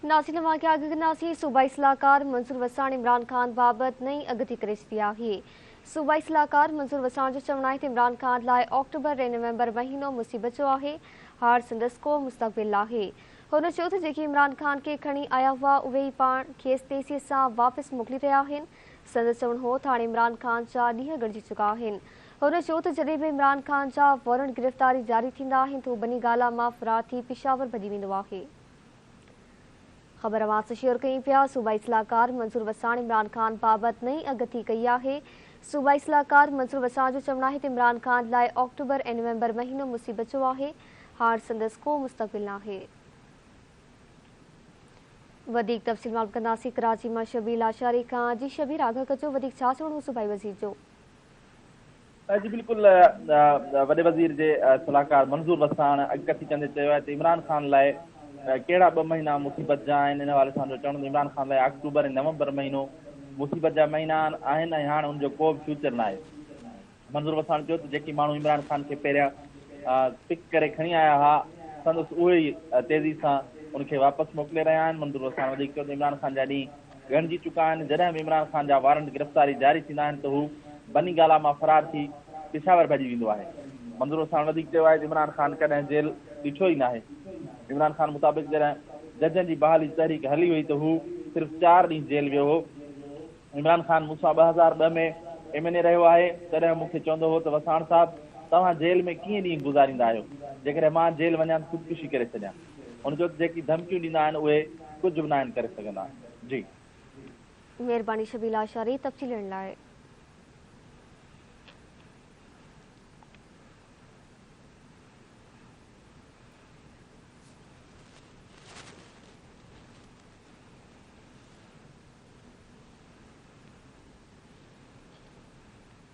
ناسين اوهان کي آگهه ڪنداسين صوبائي صلاحڪار منظور وساڻ عمران خان بابت نئين اڳتي ڪري ڇڏي آهي صوبائي صلاحڪار منظور وساڻ جو چوڻ آهي ته عمران خان لاء آڪٽوبر ۽ نومبر مهينو مصيبت جو آهي هاڻ سندس ڪو مستقبل ناهي هن چيو ته جيڪي عمران خان کي کڻي آيا هئا اهي ئي پاڻ کيس تيزي سان واپس موڪلي رهيا آهن سندس چوڻ هو ته هاڻي عمران خان جا ڏينهن ڳڻجي چڪا آهن هن چيو ته جڏهن به عمران خان جا وارنٽ گرفتاري جاري ٿيندا آهن ته هو بني گالا مان فرار ٿي پشاور ڀڄي ويندو آهي. خبر اوهان شيئر ڪيون پيا، صوبائي صلاحڪار منظور وساڻ عمران خان بابت نئين اڳڪٿي ڪئي آهي. صوبائي صلاحڪار منظور وساڻ جو چوڻ آهي ته عمران خان لاء آڪٽوبر ۽ نومبر مهينو مصيبت جو آهي، هاڻ سندس ڪو مستقبل ناهي. وڌيڪ تفصيل معلوم ڪنداسين ڪراچي مان شبير لاشاري کان، جي شبير آگاهه ڪجو وڌيڪ ڇا چوڻ هو صوبائي وزير جو؟ جي بلڪل وڏي وزير جي صلاحڪار منظور وساڻ اڳ ڪٿي ڪندي چيو آهي ته عمران خان لاء ڪهڙا ٻه مهينا مصيبت جا آهن ان حوالي سان جو چوڻ عمران خان لاء آڪٽوبر ۽ نومبر مهينو مصيبت جا مهينا آهن ۽ هاڻ ان جو ڪو به فيوچر ناهي منظور وساڻ چيو ته جيڪي ماڻهو عمران خان کي پهريان پڪ ڪري کڻي آيا ها سندس اهي ئي تيزي سان ان کي واپس موڪلي رهيا آهن منظور وساڻ وڌيڪ چيو ته عمران خان جا ڏينهن ڳڻجي چڪا آهن، جڏهن به عمران خان جا وارنٽ گرفتاري جاري ٿيندا آهن ته هو بني گالا مان فرار ٿي پشاور ڀڄي ويندو آهي. منظوروساڻ وڌيڪ چيو آهي ته عمران خان ڪڏهن جيل ڏٺو ئي ناهي، عمران خان مطابق جڏهن ججن جي بحالي جي تحريڪ هلي هئي ته هو صرف چار ڏينهن جيل ويو هو، عمران خان مون سان ٻه هزار ٻه ۾ ايم اين اي رهيو آهي، تڏهن مون کي چوندو هو ته وساڻ صاحب توهان جيل ۾ ڪيئن ڏينهن گذاريندا آهيو، جيڪڏهن مان جيل وڃان ته خودڪشي ڪري ڇڏيان. هن چيو ته جيڪي ڌمڪيون ڏيندا آهن اهي ڪجهه به ناهن ڪري سگهندا جي. مهرباني شبيل آشاري تفصيل ڏيڻ لاء.